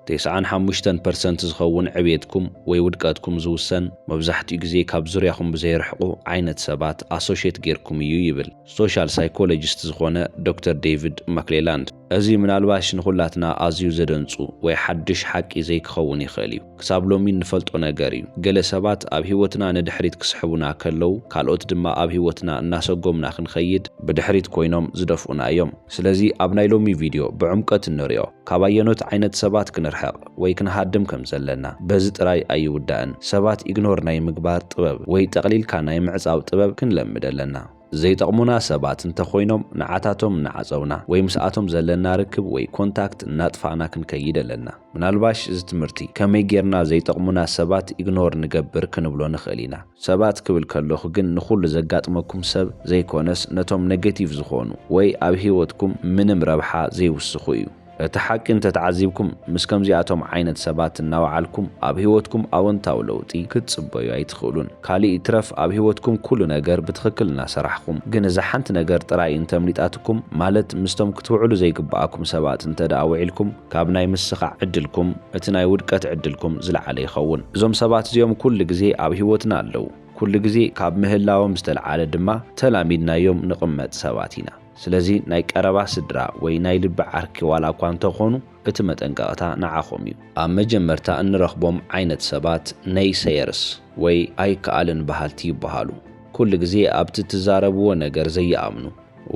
ተስዓን ሓሙሽተን ፐርሰንት ዝኸውን ዕብየትኩም ወይ ውድቀትኩም ዝውሰን መብዛሕትኡ ግዜ ካብ ዙርያኹም ብዘይርሕቑ ዓይነት ሰባት ኣሶሼት ጌርኩም እዩ ይብል ሶሻል ሳይኮሎጂስት ዝኾነ ዶክተር ዴቪድ ማክሌላንድ። እዚ ምናልባሽ ንኹላትና ኣዝዩ ዘደንጹ ወይ ሓድሽ ሓቂ ዘይክኸውን ይኽእል እዩ። ክሳብ ሎሚ እንፈልጦ ነገር እዩ። ገለ ሰባት ኣብ ህይወትና ንድሕሪት ክስሕቡና ከለው፣ ካልኦት ድማ ኣብ ህይወትና እናሰጎምና ክንኸይድ ብድሕሪት ኮይኖም ዝደፍኡና እዮም። ስለዚ ኣብ ናይ ሎሚ ቪድዮ ብዕምቆት እንሪኦ፣ ካብ ኣየኖት ዓይነት ሰባት ክንርሕቕ ወይ ክንሃድም ከም ዘለና። በዚ ጥራይ ኣይውዳእን፣ ሰባት ኢግኖር ናይ ምግባር ጥበብ ወይ ጠቕሊልካ ናይ ምዕጻው ጥበብ ክንለምድ ኣለና። ዘይጠቕሙና ሰባት እንተኾይኖም ንዓታቶም እናዓጸውና ወይ ምስኣቶም ዘለና ርክብ ወይ ኮንታክት እናጥፋእና ክንከይድ ኣለና። ምናልባሽ እዚ ትምህርቲ ከመይ ጌርና ዘይጠቕሙና ሰባት ኢግኖር ንገብር ክንብሎ ንኽእል ኢና። ሰባት ክብል ከለኹ ግን ንኹሉ ዘጋጥመኩም ሰብ ዘይኮነስ ነቶም ነገቲቭ ዝኾኑ ወይ ኣብ ህይወትኩም ምንም ረብሓ ዘይውስኹ እዩ። እቲ ሓቂ እንተተዓዚብኩም ምስ ከምዚኣቶም ዓይነት ሰባት እናወዓልኩም ኣብ ሂወትኩም ኣወንታዊ ለውጢ ክትጽበዩ ኣይትኽእሉን ካሊእ ይትረፍ ኣብ ሂወትኩም ኩሉ ነገር ብትኽክል እናሰራሕኹም ግን እዛ ሓንቲ ነገር ጥራይ እንተምሊጣትኩም ማለት ምስቶም ክትውዕሉ ዘይግበኣኩም ሰባት እንተደኣ ውዒልኩም ካብ ናይ ምስኻዕ ዕድልኩም እቲ ናይ ውድቀት ዕድልኩም ዝለዓለ ይኸውን እዞም ሰባት እዚኦም ኩሉ ግዜ ኣብ ሂወትና ኣለው ኩሉ ግዜ ካብ ምህላዎም ዝተልዓለ ድማ ተላሚድናዮም ንቕመጥ ሰባት ኢና። ስለዚ ናይ ቀረባ ስድራ ወይ ናይ ልቢ ዓርኪ ዋላ እኳ እንተኾኑ እቲ መጠንቀቕታ ንዓኹም እዩ። ኣብ መጀመርታ እንረኽቦም ዓይነት ሰባት ነይሰየርስ ወይ ኣይከኣልን በሃልቲ ይበሃሉ። ኩሉ ግዜ ኣብቲ እትዛረብዎ ነገር ዘይኣምኑ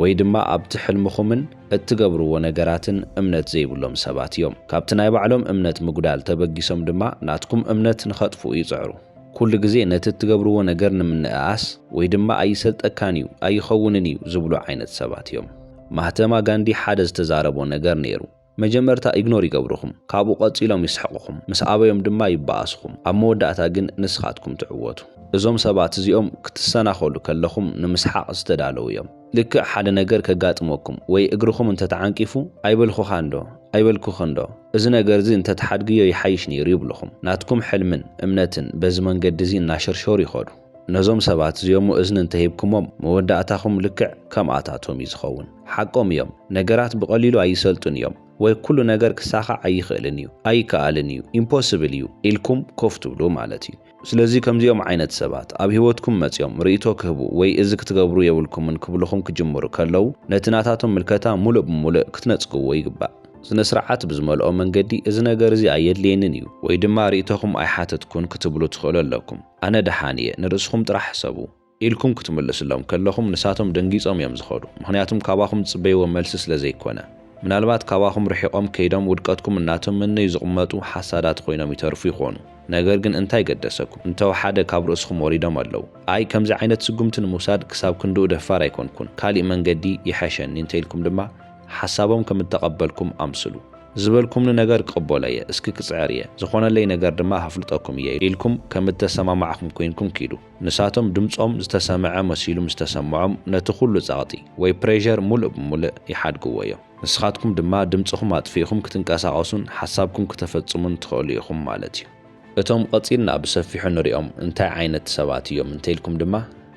ወይ ድማ ኣብቲ ሕልምኹምን እትገብርዎ ነገራትን እምነት ዘይብሎም ሰባት እዮም። ካብቲ ናይ ባዕሎም እምነት ምጉዳል ተበጊሶም ድማ ናትኩም እምነት ንኸጥፍኡ ይጽዕሩ። ኩሉ ግዜ ነቲ እትገብርዎ ነገር ንምንእኣስ ወይ ድማ ኣይሰልጠካን እዩ፣ ኣይኸውንን እዩ ዝብሉ ዓይነት ሰባት እዮም። ማህተማ ጋንዲ ሓደ ዝተዛረቦ ነገር ነይሩ፣ መጀመርታ ኢግኖር ይገብሩኹም፣ ካብኡ ቀጺሎም ይስሕቑኹም፣ ምስ ኣበዮም ድማ ይበኣሱኹም፣ ኣብ መወዳእታ ግን ንስኻትኩም ትዕወቱ። እዞም ሰባት እዚኦም ክትሰናኸሉ ከለኹም ንምስሓቕ ዝተዳለዉ እዮም። ልክዕ ሓደ ነገር ከጋጥመኩም ወይ እግርኹም እንተ ተዓንቂፉ፣ ኣይበልኹኻንዶ? ኣይበልኩኽንዶ? እዚ ነገር'ዚ እንተ ትሓድግዮ ይሓይሽ ነይሩ ይብሉኹም። ናትኩም ሕልምን እምነትን በዚ መንገዲ'ዚ እናሸርሸሩ ይኸዱ። ነዞም ሰባት'ዚኦም'ሞ እዝኒ እንተ ሂብኩሞም፣ መወዳእታኹም ልክዕ ከምኣታቶም'ዩ ዝኸውን። ሓቆም እዮም፣ ነገራት ብቐሊሉ ኣይሰልጡን እዮም፣ ወይ ኩሉ ነገር ክሳኻዕ ኣይኽእልን እዩ፣ ኣይከኣልን እዩ፣ ኢምፖስብል እዩ፣ ኢልኩም ኮፍ ትብሉ ማለት'ዩ። ስለዚ ከምዚኦም ዓይነት ሰባት ኣብ ህይወትኩም መጺኦም ርእይቶ ክህቡ ወይ እዚ ክትገብሩ የብልኩምን ክብሉኹም ክጅምሩ ከለው ነቲ ናታቶም ምልከታ ምሉእ ብምሉእ ክትነጽግዎ ይግባእ። ስነ-ስርዓት ብዝመልኦ መንገዲ እዚ ነገር እዚ ኣየድልየንን እዩ ወይ ድማ ርእይቶኹም ኣይሓተትኩን ክትብሉ ትኽእሉ ኣለኩም። ኣነ ደሓን እየ ንርእስኹም ጥራሕ ሕሰቡ። ኢልኩም ክትምልስሎም ከለኹም ንሳቶም ደንጊጾም እዮም ዝኸዱ ምኽንያቱም ካባኹም ዝጽበይዎ መልሲ ስለ ዘይኮነ። ምናልባት ካባኹም ርሒቖም ከይዶም ውድቀትኩም እናተመነዩ ዝቕመጡ ሓሳዳት ኮይኖም ይተርፉ ይኾኑ ነገር ግን እንታይ ገደሰኩም እንተወሓደ ካብ ርእስኹም ወሪዶም ኣለዉ ኣይ ከምዚ ዓይነት ስጉምቲ ንምውሳድ ክሳብ ክንድኡ ደፋር ኣይኮንኩን ካሊእ መንገዲ ይሐሸኒ እንተኢልኩም ድማ ሓሳቦም ከም እተቐበልኩም ኣምስሉ። ዝበልኩምኒ ነገር ክቕበሎ እየ እስኪ ክጽዕር እየ ዝኾነለይ ነገር ድማ ከፍልጠኩም እየ ኢልኩም ከም እተሰማማዕኹም ኮይንኩም ኪዱ። ንሳቶም ድምጾም ዝተሰምዐ መሲሉ ምስ ተሰምዖም ነቲ ኩሉ ጸቕጢ ወይ ፕሬዠር ሙሉእ ብሙልእ ይሓድግዎ እዮም። ንስኻትኩም ድማ ድምጽኹም ኣጥፊእኹም ክትንቀሳቐሱን ሓሳብኩም ክተፈጽሙን ትኸእሉ ኢኹም ማለት እዩ። እቶም ቐጺልና ብሰፊሑ ንሪኦም እንታይ ዓይነት ሰባት እዮም እንተኢልኩም ድማ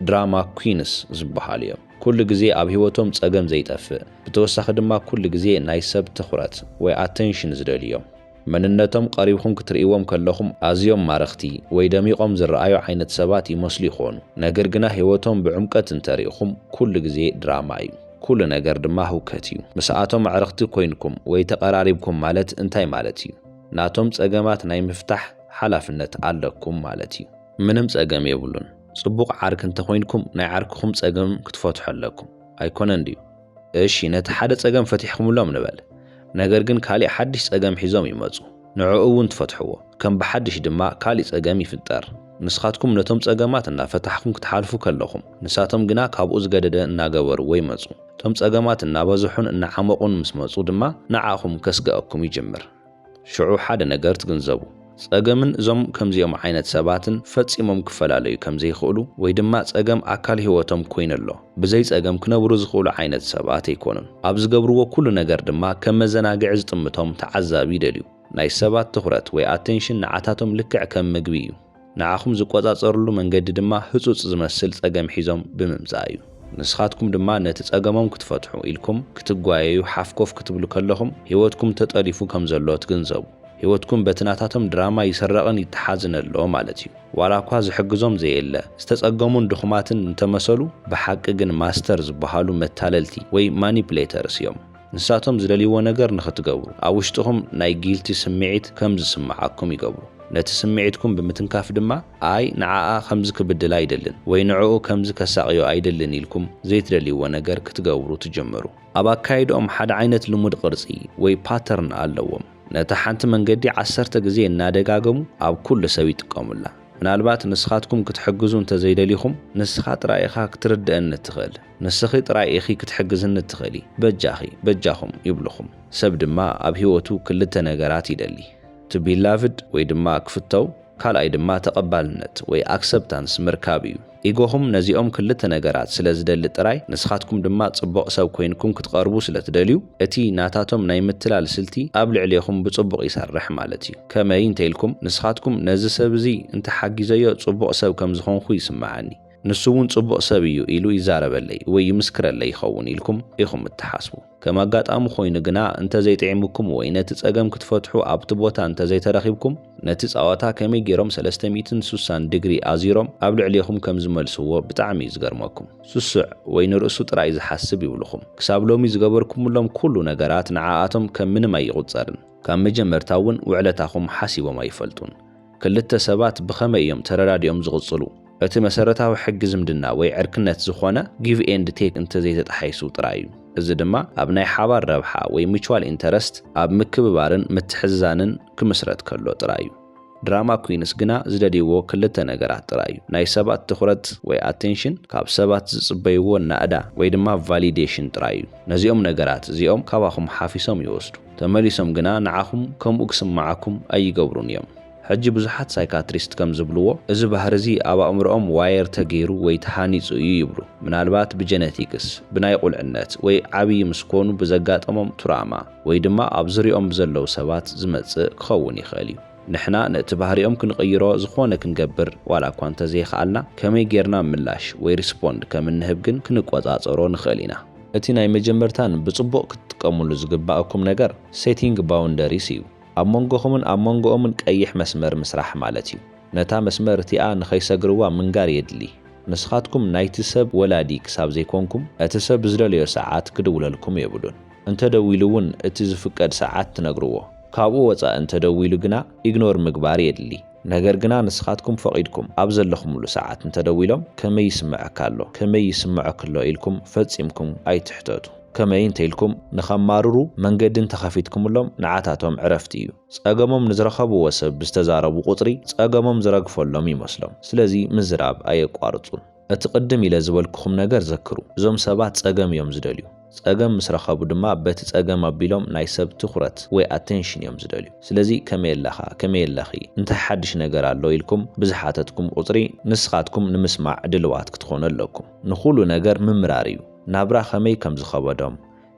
ድራማ ኲንስ ዝበሃሉ እዮም። ኩሉ ግዜ ኣብ ሂወቶም ጸገም ዘይጠፍእ ብተወሳኺ ድማ ኩሉ ግዜ ናይ ሰብ ትኹረት ወይ ኣተንሽን ዝደልዩ እዮም። መንነቶም ቀሪብኩም ክትርእይዎም ከለኹም ኣዝዮም ማረኽቲ ወይ ደሚቖም ዝረኣዩ ዓይነት ሰባት ይመስሉ ይኾኑ። ነገር ግና ህይወቶም ብዕምቀት እንተሪእኹም ኩሉ ግዜ ድራማ እዩ። ኩሉ ነገር ድማ ህውከት እዩ። ምስኣቶም ኣዕርኽቲ ኮይንኩም ወይ ተቐራሪብኩም ማለት እንታይ ማለት እዩ? ናቶም ጸገማት ናይ ምፍታሕ ሓላፍነት ኣለኩም ማለት እዩ። ምንም ጸገም የብሉን። ጽቡቕ ዓርኪ እንተኾይንኩም ናይ ዓርክኹም ጸገም ክትፈትሑ ኣለኩም። ኣይኮነን ድዩ? እሺ ነቲ ሓደ ጸገም ፈቲሕክምሎም ንበል ነገር ግን ካሊእ ሓድሽ ጸገም ሒዞም ይመጹ ንዕኡ ውን ትፈትሕዎ ከም ብሓድሽ ድማ ካሊእ ጸገም ይፍጠር ንስካትኩም ነቶም ጸገማት እና ፈታሕኩም ክትሓልፉ ከለኩም ንሳቶም ግና ካብኡ ዝገደደ እናገበርዎ ይመጹ እቶም ጸገማት እናበዝሑን እናዓመቁን ምስ መጹ ድማ ንዓኩም ከስገኣኩም ይጅምር ሽዑ ሓደ ነገር ትግንዘቡ፣ ጸገምን እዞም ከምዚኦም ዓይነት ሰባትን ፈጺሞም ክፈላለዩ ከም ዘይክእሉ ወይ ድማ ጸገም ኣካል ህይወቶም ኮይኑ ኣሎ። ብዘይ ጸገም ክነብሩ ዝኽእሉ ዓይነት ሰባት ኣይኮኑን። ኣብ ዝገብርዎ ኩሉ ነገር ድማ ከም መዘናግዒ ዝጥምቶም ተዓዛቢ ይደልዩ። ናይ ሰባት ትኹረት ወይ ኣቴንሽን ንዓታቶም ልክዕ ከም ምግቢ እዩ። ንዓኹም ዝቆጻጸርሉ መንገዲ ድማ ህጹጽ ዝመስል ጸገም ሒዞም ብምምጻእ እዩ። ንስኻትኩም ድማ ነቲ ጸገሞም ክትፈትሑ ኢልኩም ክትጓየዩ ሓፍ ኮፍ ክትብሉ ከለኹም ህይወትኩም ተጠሊፉ ከም ዘሎ ትግንዘቡ። ህይወትኩም በቲ ናታቶም ድራማ ይስረቕን ይተሓዝን ኣሎ ማለት እዩ። ዋላኳ ዝሕግዞም ዘየለ፣ ዝተጸገሙን ድኹማትን እንተመሰሉ ብሓቂ ግን ማስተር ዝበሃሉ መታለልቲ ወይ ማኒፕሌተርስ እዮም። ንሳቶም ዝደልይዎ ነገር ንኽትገብሩ፣ ኣብ ውሽጥኹም ናይ ጊልቲ ስምዒት ከም ዝስምዓኩም ይገብሩ። ነቲ ስምዒትኩም ብምትንካፍ ድማ፣ ኣይ ንዓኣ ከምዚ ክብድላ ኣይደልን ወይ ንዕኡ ከምዚ ከሳቕዮ ኣይደልን ኢልኩም ዘይትደልይዎ ነገር ክትገብሩ ትጅምሩ። ኣብ ኣካይድኦም ሓደ ዓይነት ልሙድ ቅርጺ ወይ ፓተርን ኣለዎም። ነታ ሓንቲ መንገዲ ዓሰርተ ግዜ እናደጋገሙ ኣብ ኩሉ ሰብ ይጥቀሙላ። ምናልባት ንስኻትኩም ክትሕግዙ እንተዘይደሊኹም፣ ንስኻ ጥራይ ኢኻ ክትርድኣኒ እትኽእል። ንስኺ ጥራይ ኢኺ ክትሕግዝኒ እትኽእሊ፣ በጃኺ፣ በጃኹም ይብሉኹም። ሰብ ድማ ኣብ ህይወቱ ክልተ ነገራት ይደሊ፣ to be loved ወይ ድማ ክፍተው፣ ካልኣይ ድማ ተቐባልነት ወይ ኣክሰብታንስ ምርካብ እዩ። ኢጎኹም ነዚኦም ክልተ ነገራት ስለ ዝደሊ ጥራይ፣ ንስኻትኩም ድማ ጽቡቕ ሰብ ኮይንኩም ክትቐርቡ ስለ ትደልዩ፣ እቲ ናታቶም ናይ ምትላል ስልቲ ኣብ ልዕሌኹም ብጽቡቕ ይሰርሕ ማለት እዩ። ከመይ እንተ ኢልኩም፣ ንስኻትኩም ነዚ ሰብ እዚ እንተ ሓጊዘዮ ጽቡቕ ሰብ ከም ዝኾንኩ ይስምዓኒ። ንሱ እውን ጽቡቕ ሰብ እዩ ኢሉ ይዛረበለይ ወይ ይምስክረለይ ይኸውን ኢልኩም ኢኹም እትሓስቡ። ከም ኣጋጣሚ ኮይኑ ግና እንተ ዘይጥዒሙኩም ወይ ነቲ ጸገም ክትፈትሑ ኣብቲ ቦታ እንተ ዘይተረኺብኩም፣ ነቲ ጸዋታ ከመይ ገይሮም ሰለስተ ሚእትን ሱሳን ድግሪ ኣዚሮም ኣብ ልዕሌኹም ከም ዝመልስዎ ብጣዕሚ እዩ ዝገርመኩም። ስሱዕ ወይ ንርእሱ ጥራይ ዝሓስብ ይብሉኹም። ክሳብ ሎሚ ዝገበርኩምሎም ኩሉ ነገራት ንዓኣቶም ከም ምንም ኣይቑጸርን። ካብ መጀመርታ እውን ውዕለታኹም ሓሲቦም ኣይፈልጡን። ክልተ ሰባት ብኸመይ እዮም ተረዳዲኦም ዝቕጽሉ? እቲ መሰረታዊ ሕጊ ዝምድና ወይ ዕርክነት ዝኾነ ጊቭ ኤንድ ቴክ እንተዘይተጣሒሱ ጥራይ እዩ። እዚ ድማ ኣብ ናይ ሓባር ረብሓ ወይ ሚቹዋል ኢንተረስት፣ ኣብ ምክብባርን ምትሕዝዛንን ክምስረት ከሎ ጥራይ እዩ። ድራማ ኩይንስ ግና ዝደልይዎ ክልተ ነገራት ጥራይ እዩ፣ ናይ ሰባት ትኹረት ወይ ኣቴንሽን፣ ካብ ሰባት ዝጽበይዎ ናእዳ ወይ ድማ ቫሊዴሽን ጥራይ እዩ። ነዚኦም ነገራት እዚኦም ካባኹም ሓፊሶም ይወስዱ። ተመሊሶም ግና ንዓኹም ከምኡ ክስምዓኩም ኣይገብሩን እዮም። ሕጂ ብዙሓት ሳይካትሪስት ከም ዝብልዎ፣ እዚ ባህሪ እዚ ኣብ ኣእምሮኦም ዋየር ተገይሩ ወይ ተሃኒጹ እዩ ይብሉ። ምናልባት ብጀነቲክስ፣ ብናይ ቁልዕነት ወይ ዓብዪ ምስ ኮኑ ብዘጋጠሞም ቱራማ፣ ወይ ድማ ኣብ ዙርያኦም ብዘለዉ ሰባት ዝመጽእ ክኸውን ይኽእል እዩ። ንሕና ነቲ ባህሪኦም ክንቕይሮ ዝኾነ ክንገብር ዋላ እኳ እንተዘይኸኣልና፣ ከመይ ጌርና ምላሽ ወይ ሪስፖንድ ከም እንህብ ግን ክንቆጻጸሮ ንኽእል ኢና። እቲ ናይ መጀመርታን ብጽቡቕ ክትጥቀሙሉ ዝግባኣኩም ነገር Setting Boundaries እዩ። ኣብ መንጎኹምን ኣብ መንጎኦምን ቀይሕ መስመር ምስራሕ ማለት እዩ። ነታ መስመር እቲኣ ንኸይሰግርዋ ምንጋር የድሊ። ንስኻትኩም ናይቲ ሰብ ወላዲ ክሳብ ዘይኮንኩም፣ እቲ ሰብ ብዝደለዮ ሰዓት ክድውለልኩም የብሉን። እንተ ደዊሉ እውን እቲ ዝፍቀድ ሰዓት ትነግርዎ። ካብኡ ወጻኢ እንተ ደዊሉ ግና ኢግኖር ምግባር የድሊ። ነገር ግና ንስኻትኩም ፈቒድኩም ኣብ ዘለኹምሉ ሰዓት እንተደዊሎም ከመይ ይስመዐካ ኣሎ፣ ከመይ ይስመዖኪ ኣሎ ኢልኩም ፈጺምኩም ኣይትሕተቱ። ከመይ እንተኢልኩም ንኸማርሩ መንገዲ እንተኸፊትኩምሎም ንዓታቶም ዕረፍቲ እዩ። ጸገሞም ንዝረኸብዎ ሰብ ብዝተዛረቡ ቁጽሪ ጸገሞም ዝረግፈሎም ይመስሎም። ስለዚ ምዝራብ ኣየቋርጹን። እቲ ቅድም ኢለ ዝበልኩኹም ነገር ዘክሩ። እዞም ሰባት ጸገም እዮም ዝደልዩ። ጸገም ምስ ረኸቡ ድማ በቲ ጸገም ኣቢሎም ናይ ሰብ ትኹረት ወይ ኣቴንሽን እዮም ዝደልዩ። ስለዚ ከመይ ኣለኻ? ከመይ ኣለኺ? እንታይ ሓድሽ ነገር ኣሎ? ኢልኩም ብዝሓተትኩም ቁጽሪ ንስኻትኩም ንምስማዕ ድልዋት ክትኾኑ ኣለኩም። ንኹሉ ነገር ምምራር እዩ። ናብራ ከመይ ከም ዝኸበዶም፣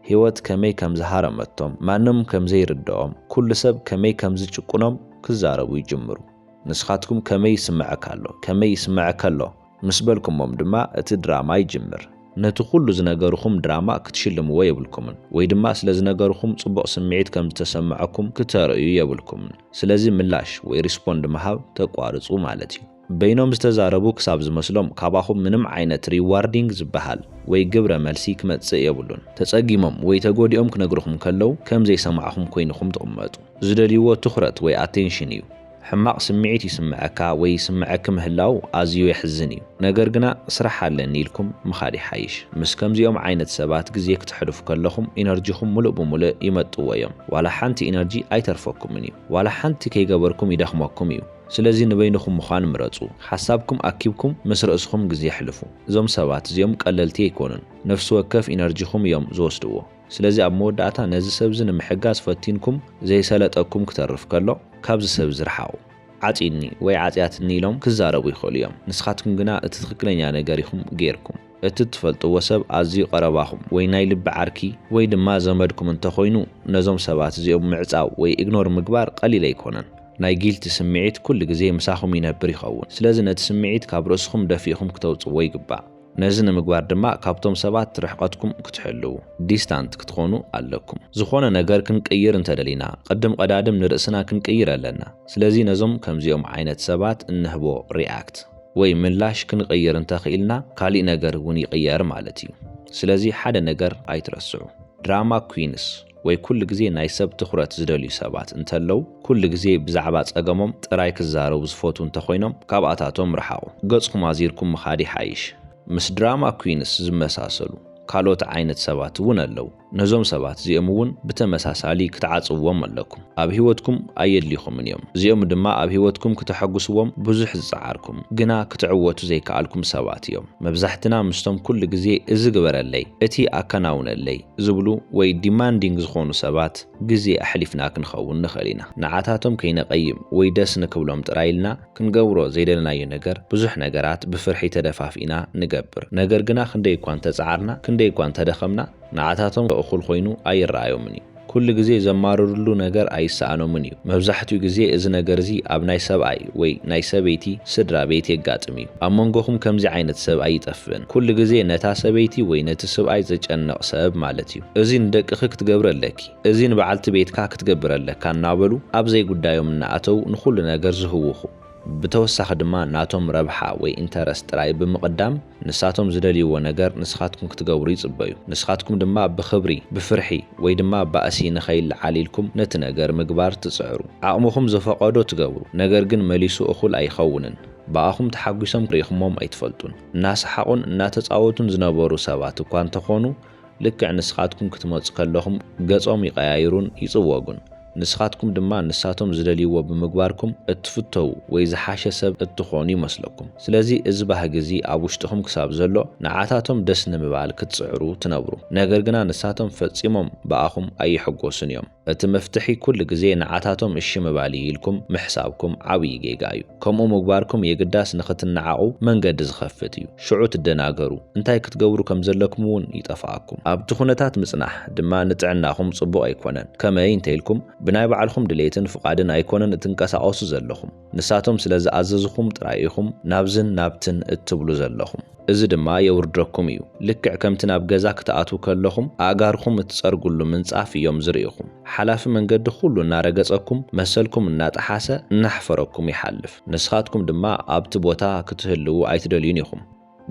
ህይወት ከመይ ከም ዝሃረመቶም፣ ማንም ከም ዘይርድኦም፣ ኩሉ ሰብ ከመይ ከም ዝጭቁኖም ክዛረቡ ይጅምሩ። ንስኻትኩም ከመይ ይስመዐካ ኣሎ? ከመይ ይስመዐከ ኣሎ? ምስ በልኩሞም ድማ እቲ ድራማ ይጅምር። ነቲ ኩሉ ዝነገርኹም ድራማ ክትሽልምዎ የብልኩምን ወይ ድማ ስለ ዝነገርኹም ጽቡቕ ስምዒት ከም ዝተሰመዐኩም ክተርእዩ የብልኩምን። ስለዚ ምላሽ ወይ ሪስፖንድ ምሃብ ተቋርጹ ማለት እዩ። በይኖም ዝተዛረቡ ክሳብ ዝመስሎም ካባኹም ምንም ዓይነት ሪዋርዲንግ ዝበሃል ወይ ግብረ መልሲ ክመጽእ የብሉን። ተጸጊሞም ወይ ተጎዲኦም ክነግርኹም ከለው ከም ዘይሰማዕኹም ኮይንኹም ትቕመጡ። ዝደልይዎ ትኹረት ወይ ኣቴንሽን እዩ። ሕማቕ ስምዒት ይስመዐካ ወይ ይስመዐኪ ምህላው ኣዝዩ የሕዝን እዩ። ነገር ግና ስራሕ ኣለኒ ኢልኩም ምኻድ ይሓይሽ። ምስ ከምዚኦም ዓይነት ሰባት ግዜ ክተሕልፉ ከለኹም ኢነርጂኹም ሙሉእ ብሙልእ ይመጥዎ እዮም። ዋላ ሓንቲ ኢነርጂ ኣይተርፈኩምን እዩ። ዋላ ሓንቲ ከይገበርኩም ይደኽመኩም እዩ። ስለዚ ንበይንኹም ምዃን ምረፁ። ሓሳብኩም ኣኪብኩም ምስ ርእስኹም ግዜ ኣሕልፉ። እዞም ሰባት እዚኦም ቀለልቲ ኣይኮኑን። ነፍሲ ወከፍ ኢነርጂኹም እዮም ዝወስድዎ። ስለዚ ኣብ መወዳእታ ነዚ ሰብዚ ንምሕጋዝ ፈቲንኩም ዘይሰለጠኩም ክተርፍ ከሎ ካብዚ ሰብዚ ርሓቑ። ዓጽዩኒ ወይ ዓጽያትኒ ኢሎም ክዛረቡ ይኽእሉ እዮም። ንስኻትኩም ግና እቲ ትኽክለኛ ነገር ኢኹም ገይርኩም። እቲ እትፈልጥዎ ሰብ ኣዝዩ ቀረባኹም ወይ ናይ ልቢ ዓርኪ ወይ ድማ ዘመድኩም እንተኾይኑ ነዞም ሰባት እዚኦም ምዕጻው ወይ ኢግኖር ምግባር ቀሊል ኣይኮነን። ናይ ጊልቲ ስምዒት ኩሉ ግዜ ምሳኹም ይነብር ይኸውን። ስለዚ ነቲ ስምዒት ካብ ርእስኹም ደፊእኹም ክተውጽዎ ይግባእ። ነዚ ንምግባር ድማ ካብቶም ሰባት ርሕቐትኩም ክትሕልዉ፣ ዲስታንት፣ ክትኾኑ ኣለኩም። ዝኾነ ነገር ክንቅይር እንተደሊና ቅድም ቐዳድም ንርእስና ክንቅይር ኣለና። ስለዚ ነዞም ከምዚኦም ዓይነት ሰባት እንህቦ ሪኣክት ወይ ምላሽ ክንቕይር እንተኽኢልና ካሊእ ነገር እውን ይቕየር ማለት እዩ። ስለዚ ሓደ ነገር ኣይትረስዑ ድራማ ኩዊንስ ወይ ኩሉ ግዜ ናይ ሰብ ትኹረት ዝደልዩ ሰባት እንተለው፣ ኩሉ ግዜ ብዛዕባ ጸገሞም ጥራይ ክዛረቡ ዝፈትዉ እንተኾይኖም ካብኣታቶም ርሓቑ። ገጽኩም ኣዚርኩም ምኻድ ይሓይሽ። ምስ ድራማ ኩዊንስ ዝመሳሰሉ ካልኦት ዓይነት ሰባት እውን ኣለው። ነዞም ሰባት እዚኦም እውን ብተመሳሳሊ ክትዓጽውዎም ኣለኩም። ኣብ ህይወትኩም ኣየድልይኹምን እዮም። እዚኦም ድማ ኣብ ህይወትኩም ክተሐጉስዎም ብዙሕ ዝጸዓርኩም ግና ክትዕወቱ ዘይከኣልኩም ሰባት እዮም። መብዛሕትና ምስቶም ኩሉ ግዜ እዚ ግበረለይ፣ እቲ ኣከናውነለይ፣ ዝብሉ ወይ ዲማንዲንግ ዝኾኑ ሰባት ግዜ ኣሕሊፍና ክንኸውን ንኽእል ኢና። ንዓታቶም ከይነቐይም ወይ ደስ ንክብሎም ጥራይ ኢልና ክንገብሮ ዘይደለናዮ ነገር ብዙሕ ነገራት ብፍርሒ ተደፋፊእና ንገብር። ነገር ግና ክንደይ እኳ እንተጸዓርና ክንደይ እኳ እንተደኸምና ንዓታቶም እኹል ኮይኑ ኣይረኣዮምን እዩ። ኩሉ ግዜ ዘማርርሉ ነገር ኣይሰኣኖምን እዩ። መብዛሕትኡ ግዜ እዚ ነገር እዚ ኣብ ናይ ሰብኣይ ወይ ናይ ሰበይቲ ስድራ ቤት የጋጥም እዩ። ኣብ መንጎኹም ከምዚ ዓይነት ሰብ ኣይጠፍእን። ኩሉ ግዜ ነታ ሰበይቲ ወይ ነቲ ስብኣይ ዝጨነቕ ሰብ ማለት እዩ። እዚ ንደቅኺ ክትገብሪ ኣለኪ፣ እዚ ንበዓልቲ ቤትካ ክትገብር ኣለካ እናበሉ ኣብ ዘይጉዳዮም እናኣተው ንኹሉ ነገር ዝህውኹ። ብተወሳኺ ድማ ናቶም ረብሓ ወይ ኢንተረስት ጥራይ ብምቕዳም ንሳቶም ዝደልይዎ ነገር ንስኻትኩም ክትገብሩ ይጽበዩ። ንስኻትኩም ድማ ብኽብሪ፣ ብፍርሒ ወይ ድማ ባእሲ ንኸይለዓል ኢልኩም ነቲ ነገር ምግባር ትጽዕሩ። ዓቕምኹም ዝፈቐዶ ትገብሩ፣ ነገር ግን መሊሱ እኹል ኣይኸውንን። ብኣኹም ተሓጒሶም ርኢኹሞም ኣይትፈልጡን። እናሰሓቑን እናተጻወቱን ዝነበሩ ሰባት እኳ እንተኾኑ፣ ልክዕ ንስኻትኩም ክትመጹ ከለኹም ገጾም ይቐያይሩን ይጽወጉን። ንስኻትኩም ድማ ንሳቶም ዝደልይዎ ብምግባርኩም እትፍተዉ ወይ ዝሓሸ ሰብ እትኾኑ ይመስለኩም። ስለዚ እዚ ባህጊ እዚ ኣብ ውሽጥኹም ክሳብ ዘሎ ንዓታቶም ደስ ንምባል ክትጽዕሩ ትነብሩ። ነገር ግና ንሳቶም ፈጺሞም ብኣኹም ኣይሕጎሱን እዮም። እቲ መፍትሒ ኩሉ ግዜ ንዓታቶም እሺ ምባል እዩ ኢልኩም ምሕሳብኩም ዓብይ ጌጋ እዩ። ከምኡ ምግባርኩም የግዳስ ንኽትነዓቑ መንገዲ ዝኸፍት እዩ። ሽዑ ትደናገሩ፣ እንታይ ክትገብሩ ከም ዘለኩም እውን ይጠፍኣኩም። ኣብቲ ኩነታት ምፅናሕ ድማ ንጥዕናኹም ፅቡቕ ኣይኮነን። ከመይ እንተይልኩም ብናይ ባዕልኹም ድሌትን ፍቓድን ኣይኮነን እትንቀሳቐሱ ዘለኹም። ንሳቶም ስለ ዝኣዘዝኹም ጥራይ ኢኹም ናብዝን ናብትን እትብሉ ዘለኹም። እዚ ድማ የውርደኩም እዩ። ልክዕ ከምቲ ናብ ገዛ ክትኣትዉ ከለኹም ኣእጋርኹም እትጸርግሉ ምንጻፍ እዮም ዝርእኹም። ሓላፊ መንገዲ ኩሉ እናረገጸኩም፣ መሰልኩም እናጠሓሰ እናሕፈረኩም ይሓልፍ። ንስኻትኩም ድማ ኣብቲ ቦታ ክትህልዉ ኣይትደልዩን ኢኹም።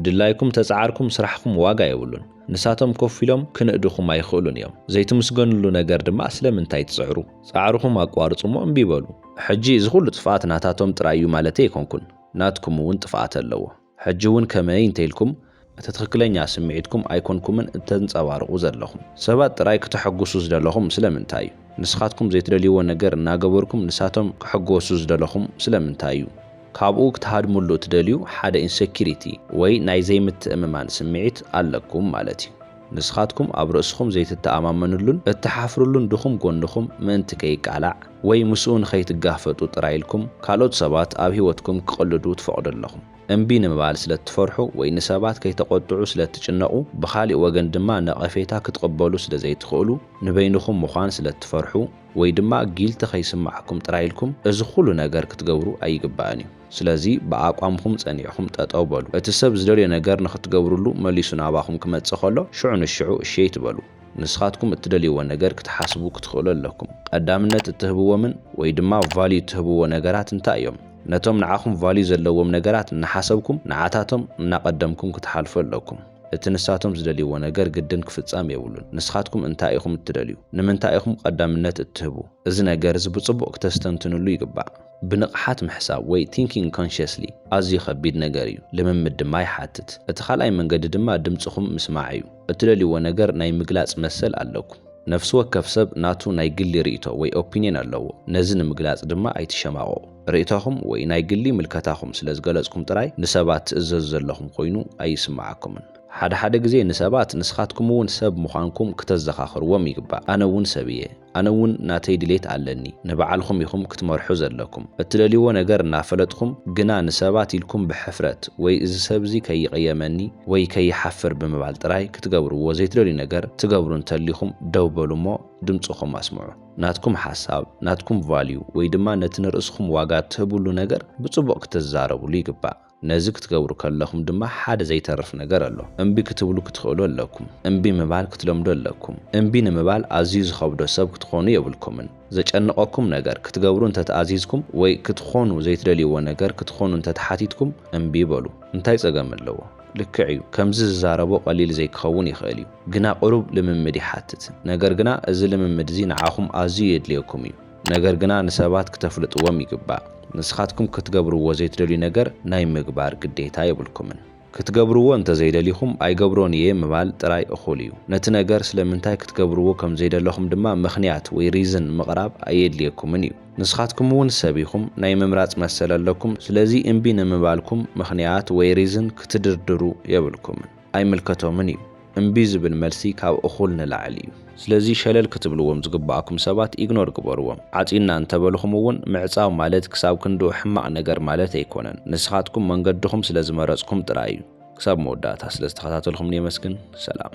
ድላይኩም ተጻዓርኩም ስራሕኩም ዋጋ የብሉን ንሳቶም ኮፍ ኢሎም ክንእድኹም ኣይኽእሉን እዮም ዘይትምስገንሉ ነገር ድማ ስለምንታይ ትጽዕሩ ጻዕርኹም ኣቋርጹ እሞ እምቢ በሉ ሕጂ እዚ ኩሉ ጥፍኣት ናታቶም ጥራይ እዩ ማለተይ ኣይኮንኩን ናትኩም እውን ጥፍኣት ኣለዎ ሕጂ እውን ከመይ እንተኢልኩም እቲ ትኽክለኛ ስምዒትኩም ኣይኮንኩምን እተንጸባርቑ ዘለኹም ሰባት ጥራይ ክተሐጉሱ ዝደለኹም ስለምንታይ እዩ ንስኻትኩም ዘይትደልይዎ ነገር እናገበርኩም ንሳቶም ክሕጎሱ ዝደለኹም ስለምንታይ እዩ ካብኡ ክትሃድምሉ እትደልዩ ሓደ ኢንሰኪሪቲ ወይ ናይ ዘይምትእምማን ስምዒት ኣለኩም ማለት እዩ። ንስኻትኩም ኣብ ርእስኹም ዘይትተኣማመንሉን እትሓፍርሉን ድኹም ጎንኹም ምእንቲ ከይቃላዕ ወይ ምስኡ ንኸይትጋፈጡ ጥራይ ኢልኩም ካልኦት ሰባት ኣብ ህይወትኩም ክቕልዱ ትፈቕዱ ኣለኹም። እምቢ ንምባል ስለ እትፈርሑ ወይ ንሰባት ከይተቖጥዑ ስለ እትጭነቑ ብኻሊእ ወገን ድማ ነቐፌታ ክትቕበሉ ስለ ዘይትኽእሉ ንበይንኹም ምዃን ስለ እትፈርሑ ወይ ድማ ጊልቲ ከይስማዓኩም ጥራይ ኢልኩም እዚ ኩሉ ነገር ክትገብሩ ኣይግባእን እዩ ስለዚ ብኣቋምኹም ጸኒዕኹም ጠጠው በሉ እቲ ሰብ ዝደልዮ ነገር ንኽትገብርሉ መሊሱ ናባኹም ክመጽእ ከሎ ሽዑ ንሽዑ እሺ ኣይትበሉ ንስኻትኩም እትደልይዎ ነገር ክትሓስቡ ክትኽእሉ ኣለኩም ቐዳምነት እትህብዎምን ወይ ድማ ቫልዩ እትህብዎ ነገራት እንታይ እዮም ነቶም ንዓኹም ቫልዩ ዘለዎም ነገራት እናሓሰብኩም ንዓታቶም እናቐደምኩም ክትሓልፉ ኣለኩም። እቲ ንሳቶም ዝደልይዎ ነገር ግድን ክፍጸም የብሉን። ንስኻትኩም እንታይ ኢኹም እትደልዩ? ንምንታይ ኢኹም ቐዳምነት እትህቡ? እዚ ነገር እዚ ብጽቡቕ ክተስተንትኑሉ ይግባእ። ብንቕሓት ምሕሳብ ወይ Thinking Consciously ኣዝዩ ኸቢድ ነገር እዩ፣ ልምምድ ድማ ይሓትት። እቲ ኻልኣይ መንገዲ ድማ ድምጽኹም ምስማዕ እዩ። እትደልይዎ ነገር ናይ ምግላጽ መሰል ኣለኩም። ነፍሲ ወከፍ ሰብ ናቱ ናይ ግሊ ርእይቶ ወይ Opinion ኣለዎ፣ ነዚ ንምግላጽ ድማ ኣይትሸማቐቑ። ርእይቶኹም ወይ ናይ ግሊ ምልከታኹም ስለ ዝገለጽኩም ጥራይ ንሰባት ትእዘዙ ዘለኹም ኮይኑ ኣይስምዓኩምን። ሓደ ሓደ ግዜ ንሰባት ንስኻትኩም እውን ሰብ ምዃንኩም ክተዘኻኽርዎም ይግባእ። ኣነ እውን ሰብ እየ። ኣነ እውን ናተይ ድሌት ኣለኒ። ንባዕልኹም ኢኹም ክትመርሑ ዘለኩም። እትደልይዎ ነገር እናፈለጥኹም ግና ንሰባት ኢልኩም ብሕፍረት ወይ እዚ ሰብ እዚ ከይቕየመኒ ወይ ከይሓፍር ብምባል ጥራይ ክትገብርዎ ዘይትደልዩ ነገር ትገብሩ እንተሊኹም ደው በሉ እሞ ድምጽኹም ኣስምዑ። ናትኩም ሓሳብ፣ ናትኩም ቫልዩ ወይ ድማ ነቲ ንርእስኹም ዋጋ እትህብሉ ነገር ብጽቡቕ ክትዛረብሉ ይግባእ። ነዚ ክትገብሩ ከለኹም ድማ ሓደ ዘይተርፍ ነገር ኣሎ። እምቢ ክትብሉ ክትኽእሉ ኣለኩም። እምቢ ምባል ክትለምዱ ኣለኩም። እምቢ ንምባል ኣዝዩ ዝኸብዶ ሰብ ክትኾኑ የብልኩምን። ዘጨንቐኩም ነገር ክትገብሩ እንተ ተኣዚዝኩም ወይ ክትኾኑ ዘይትደልይዎ ነገር ክትኾኑ እንተ ተሓቲትኩም እምቢ በሉ። እንታይ ጸገም ኣለዎ? ልክዕ እዩ ከምዚ ዝዛረቦ ቀሊል ዘይክኸውን ይኽእል እዩ ግና ቅሩብ ልምምድ ይሓትት ነገር ግና እዚ ልምምድ እዚ ንዓኹም ኣዝዩ የድልየኩም እዩ ነገር ግና ንሰባት ክተፍልጥዎም ይግባእ ንስኻትኩም ክትገብርዎ ዘይትደልዩ ነገር ናይ ምግባር ግዴታ የብልኩምን ክትገብርዎ እንተዘይደሊኹም ኣይገብሮን እየ ምባል ጥራይ እኹል እዩ ነቲ ነገር ስለምንታይ ክትገብርዎ ከምዘይደለኹም ድማ ምኽንያት ወይ ሪዝን ምቕራብ ኣየድልየኩምን እዩ። ንስኻትኩም እውን ሰብ ኢኹም፣ ናይ ምምራጽ መሰል ኣለኩም፣ ስለዚ እምቢ ንምባልኩም ምኽንያት ወይ ሪዝን ክትድርድሩ የብልኩምን፣ ኣይምልከቶምን እዩ፣ እምቢ ዝብል መልሲ ካብ እኹል ንላዕሊ እዩ። ስለዚ ሸለል ክትብልዎም ዝግበኣኩም ሰባት ኢግኖር ግበርዎም፣ ዓጺና እንተበልኹም እውን ምዕጻው ማለት ክሳብ ክንድኡ ሕማቕ ነገር ማለት ኣይኮነን፣ ንስኻትኩም መንገድኹም ስለ ዝመረጽኩም ጥራይ እዩ። ክሳብ መወዳእታ ስለ ዝተኸታተልኹምኒ የመስግን፣ ሰላም።